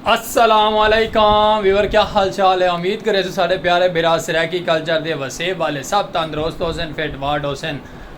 السلام علیکم ویور کیا حال چال ہے امید کرے سو سارے پیارے برا سریکی کلچر دے وسیب والے سب تندرست ہو سن فٹ فاٹ ہو سن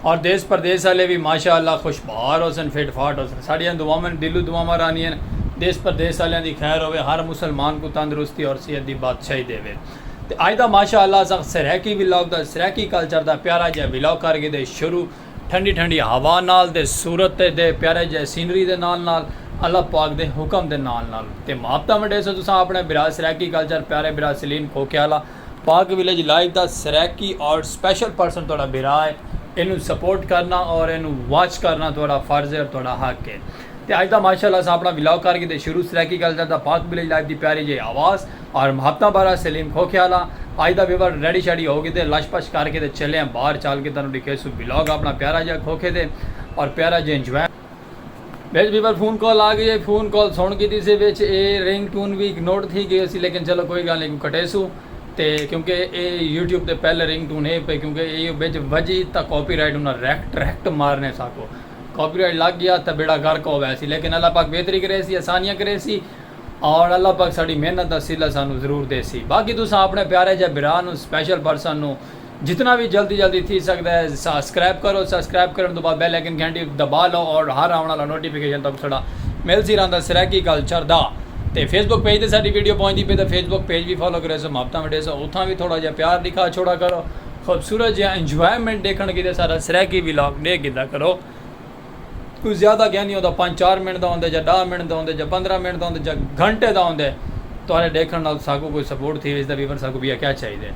اور دیس پردیس والے بھی ماشاء اللہ خوش بہار ہو سن فٹ فاٹ ہو سن ساڑیاں دعا میں دلو دعا میں رانی ہیں دیس پردیس والے دی خیر ہوئے ہر مسلمان کو تندرستی اور صحت دی بات چاہی دے وے تے اج دا ماشاء اللہ سخت سرائیکی ولاگ دا سرائیکی کلچر دا پیارا جیہا ولاگ کر گھدے شروع ٹھنڈی ٹھنڈی ہوا نال تے صورت تے دے پیارے جیہے سینری دے نال نال اللہ پاک دے حکم دے نال نال تے محبتاں ونڈیسو تساں آپنے بھرا سرائیکی کلچر پیارے بھرا سلیم کھوکھے آلا پاک ولیج لائیو دا سرائیکی اور سپیشل پرسن تہاڈا بھرا ہے اینوں سپورٹ کرنا اور اینوں واچ کرنا تہاڈا فرض ہے اور تہاڈا حق ہے تے اج دا ماشاء اللہ اساں اپنا ولاگ کر گھدے شروع سرائیکی کلچر دا پاک ولیج لائیو دی پیاری جیہی آواز آر مہاپتاں بارہ سلیم کھوکھیالا آج دا ویور ریڈی شیڈی ہو گیتے لش پش کر کے تے چلے ہیں باہر چال کے تانوں ڈکھے سو ولاگ اپنا پیارا جیا کھوکھے دے اور پیارا جے انجوائے وچ ویور فون کال آ گئی ہے فون کال سن کیتی سے وچ اے رنگ ٹون وی اگنورڈ تھی گئی سی لیکن چلو کوئی گال نہیں کٹے سو تے کیونکہ اے یوٹیوب تے پہلے رنگ ٹون ہے پے کیونکہ اے وچ وجی تا کاپی رائٹ انہاں ریکٹ ریکٹ مارنے ساکو کاپی رائٹ لگ گیا تا بیڑا گرک ہو ویسی لیکن اللہ پاک بہتری کرے سی آسانیاں کرے سی ہن اللہ پاک ساڈی محنت دا صلہ سانوں ضرور ڈیسی باقی تساں اپنے پیارے جے بھرا نوں سپیشل پرسن نوں جتنا وی جلدی جلدی تھی سکدا ہے سسکرائب کرو سسکرائب کرن توں بعد بیل آئیکن گھنٹی دبا لو اور ہر آون والا نوٹیفکیشن تہاکوں ساڈا ملسی رہندا سرائیکی کلچر دا تے فیس بک پیج تے ساڈی ویڈیو پہنچدی پئی تاں فیس بک پیج وی فالو کریسو محبتاں وڈیسو اتھاں وی تھوڑا جیہا پیار ڈکھا چھوڑا کرو خوبصورت جیہا انجوائمنٹ ڈیکھن کیتے ساڈا سرائیکی ولاگ ڈیکھ گھدا کرو۔ کوئی زیادہ گھن نہیں ہوندا پنج چار منٹ دا ہوندے جا ڈاہ منٹ دا ہوندے جا پندرہ منٹ دا ہوندے جا گھنٹے دا ہوندے تہاڈے ڈیکھن نال ساکوں کوئی سپورٹ تھی ویسی دا ویور ساکوں بیا کیا چاہیدے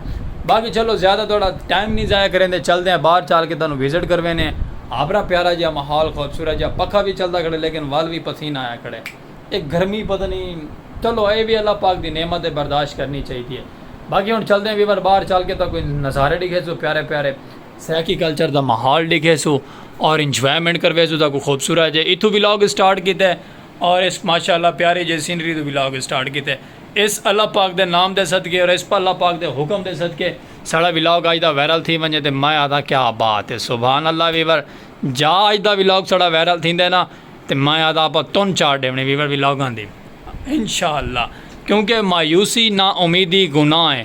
باقی چلو زیادہ تہاڈا ٹائم نہیں ضائع کریندے چلدے ہیں باہر چال کے تہانوں وزٹ کروینے آپرا پیارا جیا ماحول خوبصورت جیا پکھا وی چلدا کھڑے لیکن ول وی پسینہ آیا کھڑے اے گرمی پتہ نہیں چلو اے وی اللہ پاک دی نعمت ہے برداشت کرنی چاہیدی ہے باقی ہن چلدے ہیں ویور باہر چال کے تہاکوں نظارے ڈیکھیسوں پیارے پیارے سرائیکی کلچر دا ماحول ڈیکھے سو اور انجوائمنٹ کروے سو تاکو خوبصورت جے اتھو ولاگ سٹارٹ کیتے اور اس ماشاءاللہ پیاری جے سینری توں ولاگ سٹارٹ کیتے اس اللہ پاک دے نام دے صدقے اور اس اللہ پاک دے حکم دے صدقے ساڑا ولاگ اج دا وائرل تھی ونجے تے میں آکھدا کیا بات ہے سبحان اللہ ویور جا اج دا ولاگ ساڑا وائرل تھیندے نا تے میں آکھدا اپا تن چار ڈیونی ویور ولاگاں دی انشاءاللہ کیونکہ مایوسی نا امیدی گناہ ہے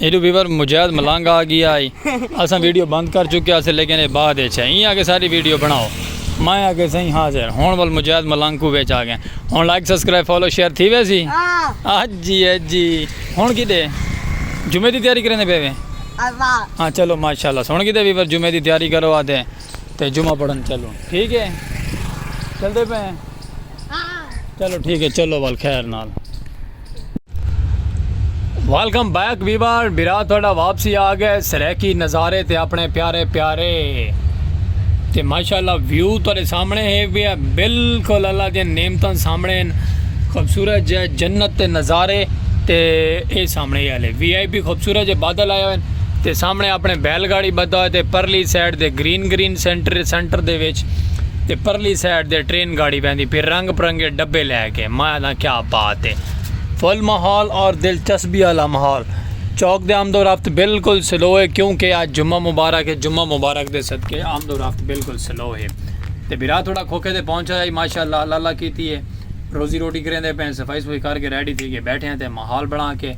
ایڈو ویور مجاہد ملنگ آ گیا ہے اساں ویڈیو بند کر چکیا سے لیکن اے بعد اچ ہے ایں آکے ساری ویڈیو بناؤ میں آکے سائیں حاضر ہن ول مجاہد ملنگ کو وچ آ گئے ہن لائک سبسکرائب فالو شیئر تھی وے سی ہاں جی ہے جی ہن کی دے جمعے دی تیاری کرنے پے وے ہاں چلو ماشاءاللہ سن کی دے ویور جمعے دی تیاری کرو آتے تے جمعہ پڑھن چلو ٹھیک ہے چل دے پے چلو ٹھیک ہے چلو ول خیر نال ویلکم بیک ویوار برا تھوڑا واپسی آ گئے سریکی نظارے تے اپنے پیارے پیارے تے ماشاءاللہ ویو تھوڑے سامنے ہے بھی ہے بالکل اللہ دے نعمتاں سامنے ہیں خوبصورت جے جنت تے نظارے تے اے سامنے والے وی آئی پی خوبصورت جے بادل آئے ہوئے تے سامنے اپنے بیل گاڑی بدا ہوئے تے پرلی سائڈ دے گرین گرین سینٹر سینٹر دے وچ تے پرلی سائڈ دے ٹرین گاڑی بیندی پھر رنگ پرنگے ڈبے لے کہ ماہ دا کیا بات ہے۔ فل ماحول اور دلچسپی آلا ماحول چوک دے آمد و رفت بالکل سلو ہے کیوں کہ اج جمعہ مبارک ہے جمعہ مبارک دے صدقے آمد و رفت بالکل سلو ہے تے بھرا تھوڑا کھوکھے تے پہنچ آیا ہی ماشاءاللہ اللہ اللہ کیتی ہے روزی روٹی کریندے پئے ہیں صفائی صفائی کر کے ریڈی تھی کے بیٹھے ہیں تے ماحول بنا کے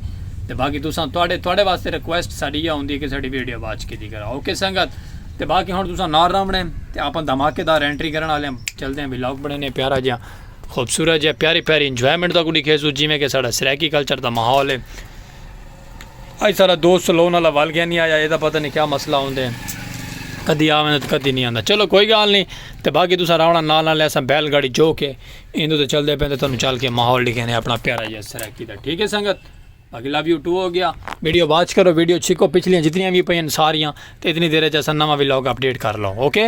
تے باقی تساں تواڈے تواڈے واسطے ریکویسٹ ساڈی ایہا ہوندی ہے کہ ساڈی ویڈیو واچ کیتی کرا اوکے سنگت تے باقی ہن تساں نال رہونے تے آپاں دھماکے دار انٹری کرن آلے ہیں چلدے ہیں ولاگ بنانے ہیں پیارا جیہا۔ خوبصورت جے پیاری پیاری انجوائمنٹ دا کو ڈکھے سو جیویں کہ ساڈا سرائیکی کلچر دا ماحول ہے اج سارا دوست لون والا ول گیا نہیں آیا اے دا پتہ نہیں کیا مسئلہ ہوندے کدی آویں تے کدی نہیں آندا چلو کوئی گال نہیں تے باقی تساں راونا نال نال ایسا بیل گاڑی جو کے ایندو تے چل دے پے تے تانوں چل کے ماحول ڈکھے نے اپنا پیارا جے سرائیکی دا ٹھیک ہے سنگت باقی لو یو ٹو ہو گیا ویڈیو واچ کرو ویڈیو چھکو پچھلیاں جتنیاں بھی پئین ساریاں تے اتنی دیر چ اساں نواں وی لوگ اپڈیٹ کر لو اوکے